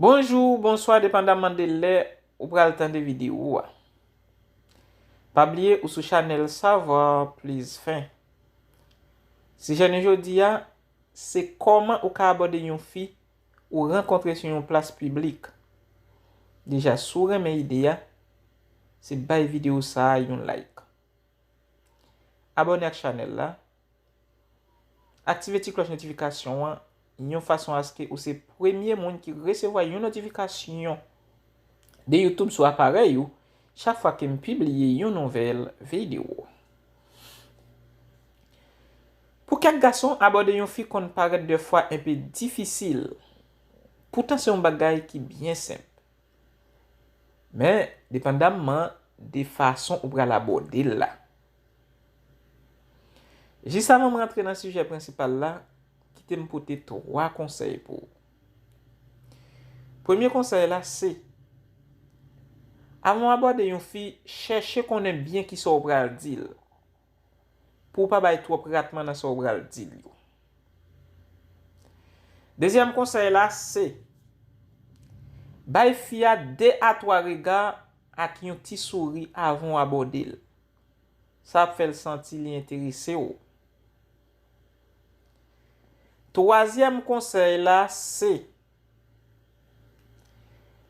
Bonjou ou bonswa depandaman de lè ou pral tande videyo a. Pa bliye ou sou chanèl Savoir plus 20. Sijè nou jodi a, se kòman ou ka abòde yon fi ou rankontre sou yon plas piblik. Deja si w renmen ide a, se bay videyo sa a yon like. Abòne ak chanèl la Aktive ti klòch notifikasyon an yon fason aske ou se premye moun ki resevwa yon notifikasyon de YouTube sou aparèy ou chak fwa ke m pibliye yon nouvèl videyo. Pou kèk gason, abòde yon fi konn parèt dèfwa enpe difisil. Poutan se yon bagay ki byen senp. Men, depandamman de fason ou pral abòde l la. Jis avan m rantre nan sijè prensipal la, kite m pote 3 konsèy pou ou. Premye konsèy la se, avan w abòde yon fi, chèche konnen byen kisa w pral di l, pou w pa bay twòp ratman nan sa w pral di l yo. Dezyèm konsèy la se, bay fi a 2 a 3 rega ak yon ti souri avan w abòde l. Sa ap fè l santi li enterese w. Twazyèm konsèy la se,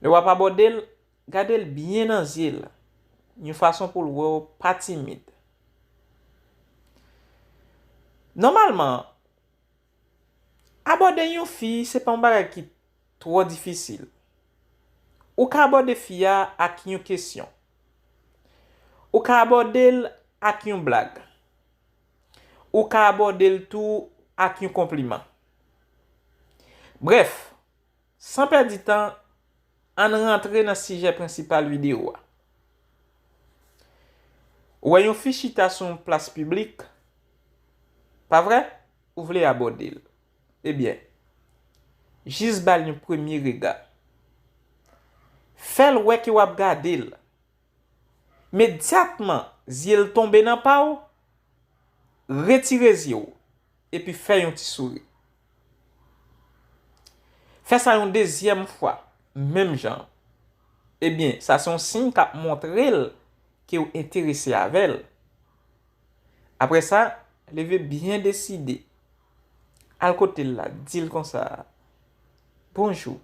lè w ap abòde l, gade l byen nan zye l, yon fason pou l wè w pa timid. Nòmalman, Abòde yon fi se pa yon bagay ki twò difisil. Ou ka abòde fi a ak yon kesyon. Ou ka abòde l ak yon blag. Ou ka abòde l tou ak yon konpliman. Brèf, San pèdi tan, ann rantre nan sijè prensipal videyo a. Ou wè yon fi chita sou yon plas piblik, pa vre? Ou vle abòde l. Ebyen, jis ba l yon premye rega. Fè l wè ke w ap gade l. Medyatman zye l tonbe nan pa w, retire zye w. epi fè yon ti souri. Fè sa yon dezyèm fwa, menm jan an. Ebyen, sa se yon siy k ap montre l ke w enterese avè l. Apre sa, leve byen deside, al kote l la, di l konsa, Bonjou.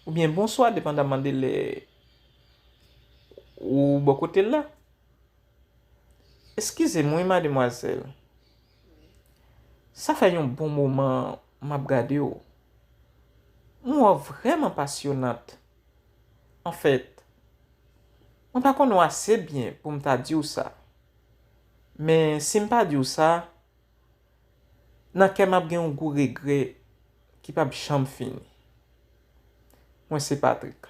Oubyen Bonswa depandaman de lè ou bò kote l la. Eskize m wi mademwazèl. Sa fè yon bon moman m ap gade w. M wè w vrèman pasyonant. Anfèt, mwen pa konnen w ase byen pou m ta di w sa. Men si m pa di w sa, nan kè m ap gen yon gou regrè ki p ap janm fini. Mwen se Patrik.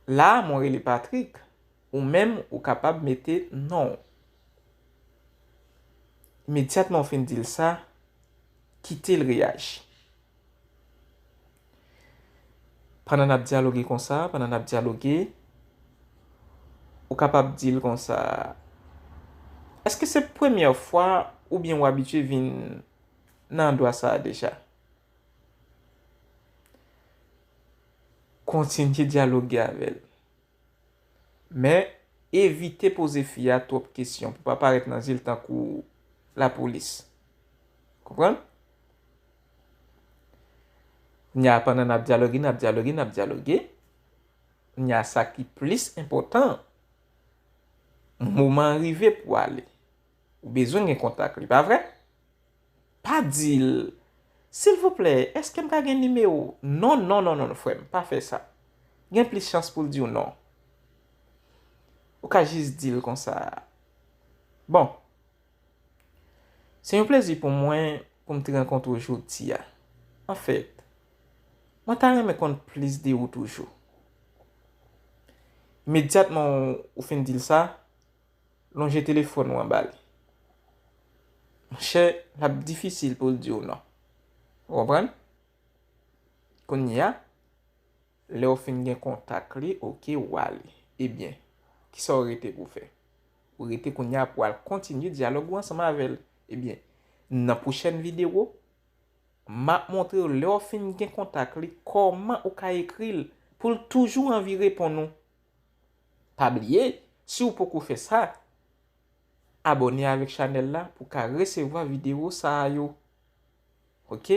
La a mwen rele Patrik. Ou menm ou kapab mete non w. Imedyatman ou fin di l sa, kite l reyaji. Pandan n ap dyaloge konsa, pandan n ap dyaloge, ou kapab di l konsa, Èske se premyè fwa oubyen ou abitye vin nan andwa sa a deja? Kontinye dyaloge avè l. Men, evite poze fi a twòp kesyon pou pa parèt nan zye l tankou lapolis. Konprann? Kounya a pandan n ap dyaloge, n ap dyaloge, n ap dyaloge, kounya sa ki plis enpòtan, moman an rive pou ale. Ou bezwen gen kontak li, pa vre? Pa dil silvouplè eske m ka gen nimewo non non non non frem pa fè sa gen plis chans poul diw non ou ka jis dil konsa bon se yon plezi pou mwen poum t rankontre w jodia anfèt mwen ta renmen konn plis de ou toujou imedyatman ou fin dil sa Lonje telefòn ou an ba li. Monchè, l ap difisil pou l di w non. Ou konprann? Kounye a, lè ou fin gen kontak li, oke, ou ale. Ebyen, ki sa ou rete pou w fè? Ou rete kounye a pou w al kontinye dyalòg ou ansanm avè l. Ebyen, nan pwochèn videwo, m ap montre w lè ou fin gen kontak li, kòman ou ka ekri l pou l toujou anvi reponn ou. Pa bliye si ou poko fè sa Abòne avèk chanèl la pou ka resevwa videwo sa a yo ok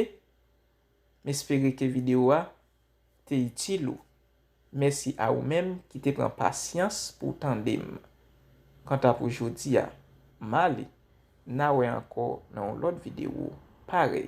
M espere ke videwo a te itil ou Mèsi a ou menm ki te pran pasyans pou w tande m Kanta pou jodi a m ale Na wè ankò nan yon lòt videwo parèy.